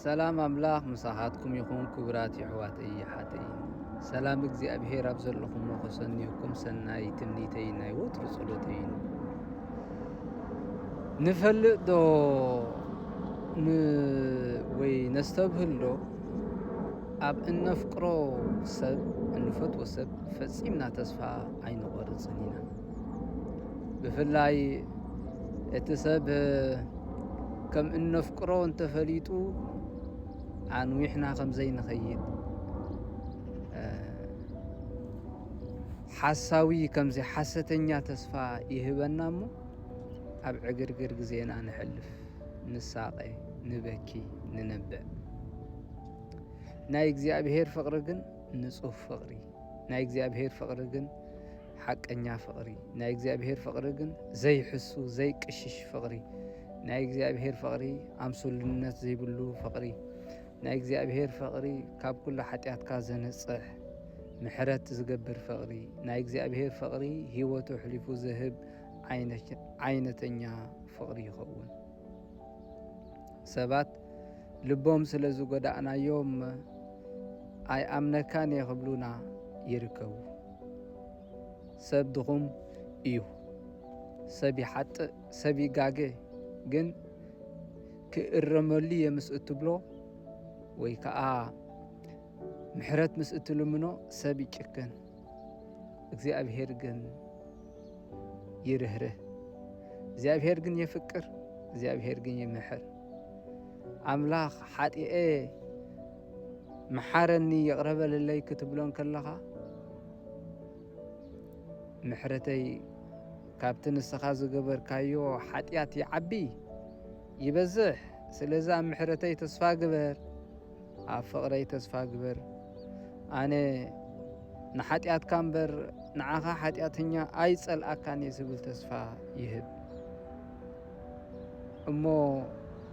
ሰላም ኣምላኽ ምሳኻትኩም ይኹን ክቡራት የሕዋተይ የሓተይ ሰላም እግዚኣብሄር ኣብ ዘለኹሞ ከሰንዩኩም ሰናይ ትምኒተይ ናይ ወትሩ ጸሎተይ ንፈልጥ ዶ ወይ ነስተብህል ዶ ኣብ እነፍቅሮ ሰብ እንፈትዎ ሰብ ፈጺምና ተስፋ ኣይንቖርጽን ኢና። ብፍላይ እቲ ሰብ ከም እነፍቅሮ እንተፈሊጡ ኣንዊሕና ከም ዘይንኸይድ ሓሳዊ ከምዚ ሓሰተኛ ተስፋ ይህበና እሞ ኣብ ዕግርግር ግዜና ንሕልፍ ንሳቐ ንበኪ ንነብዕ ናይ እግዚኣብሄር ፍቕሪ ግን ንጹህ ፍቕሪ ናይ እግዚኣብሄር ፍቕሪ ግን ሓቀኛ ፍቕሪ ናይ እግዚኣብሔር ፍቕሪ ግን ዘይሕሱ ዘይቅሽሽ ፍቕሪ ናይ እግዚኣብሔር ፍቕሪ ኣምሱልነት ዘይብሉ ፍቕሪ ናይ እግዚኣብሔር ፍቕሪ ካብ ኩሉ ሓጢኣትካ ዘንጽሕ ምሕረት ዝገብር ፍቕሪ ናይ እግዚኣብሔር ፍቕሪ ህይወቱ ኣሕሊፉ ዝህብ ዓይነተኛ ፍቕሪ ይኸውን። ሰባት ልቦም ስለ ዝጎዳእናዮም ኣይኣምነካን እየ ክብሉና ይርከቡ። ሰብ ድኹም እዩ። ሰብ ይሓጥእ፣ ሰብ ይጋገ። ግን ክእረመሉ እየ ምስ እትብሎ ወይ ከዓ ምሕረት ምስ እትልምኖ ሰብ ይጭክን። እግዚኣብሔር ግን ይርህርህ፣ እግዚኣብሔር ግን የፍቅር፣ እግዚኣብሔር ግን ይምሕር። ኣምላኽ ሓጢኤ መሓረኒ ይቕረበልለይ ክትብሎን ከለኻ ምሕረተይ ካብቲ ንስኻ ዝገበርካዮ ሓጢኣት ይዓቢ ይበዝሕ፣ ስለዚ ኣብ ምሕረተይ ተስፋ ግበር ኣብ ፍቕረይ ተስፋ ግበር ኣነ ንሓጢኣትካ እምበር ንዓኻ ሓጢኣተኛ ኣይጸልኣካን እየ ዝብል ተስፋ ይህብ እሞ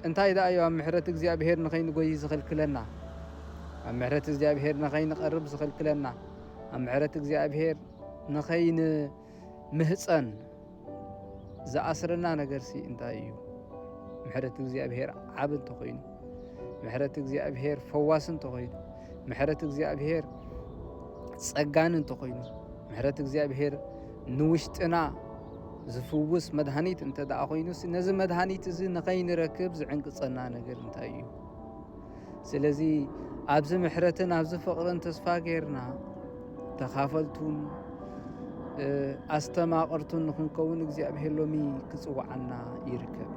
እንታይ ደኣ እዩ ኣብ ምሕረት እግዚኣብሄር ንኸይንጎይ ዝኽልክለና? ኣብ ምሕረት እግዚኣብሄር ንኸይንቐርብ ዝኽልክለና? ኣብ ምሕረት እግዚኣብሄር ንኸይን ምህጸን ዝኣስረና ነገርሲ እንታይ እዩ? ምሕረት እግዚኣብሔር ዓብ እንተኾይኑ፣ ምሕረት እግዚኣብሔር ፈዋስ እንተኾይኑ፣ ምሕረት እግዚኣብሔር ጸጋን እንተኾይኑ፣ ምሕረት እግዚኣብሔር ንውሽጥና ዝፍውስ መድሃኒት እንተ ደኣ ኮይኑ ነዚ መድሃኒት እዚ ንኸይንረክብ ዝዕንቅጸና ነገር እንታይ እዩ? ስለዚ ኣብዚ ምሕረትን ኣብዚ ፍቕርን ተስፋ ጌርና ተኻፈልቱን ኣስተማቕርቱን ንኽንከውን እግዚኣብሔር ሎሚ ክጽውዓና ይርከብ።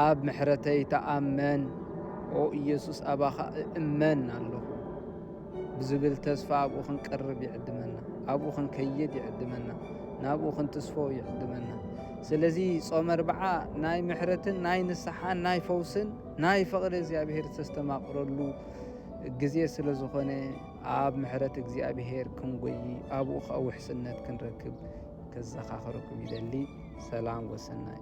ኣብ ምሕረተይ ተኣመን ኦ ኢየሱስ ኣባኻ እእመን ኣለኹ። ብዝብል ተስፋ ኣብኡ ክንቀርብ ይዕድመና። ኣብኡ ክንከይድ ይዕድመና። ናብኡ ክንትስፎ ይዕድመና። ስለዚ ጾመ ኣርብዓ ናይ ምሕረትን ናይ ንስሓን ናይ ፈውስን ናይ ፍቕሪ እግዚኣብሔር ዝተስተማቕረሉ ግዜ ስለ ዝኾነ ኣብ ምሕረት እግዚኣብሔር ክንጎይ ኣብኡ ከዓ ውሕስነት ክንረክብ ከዘኻኽረኩም ይደሊ። ሰላም ወሰናይ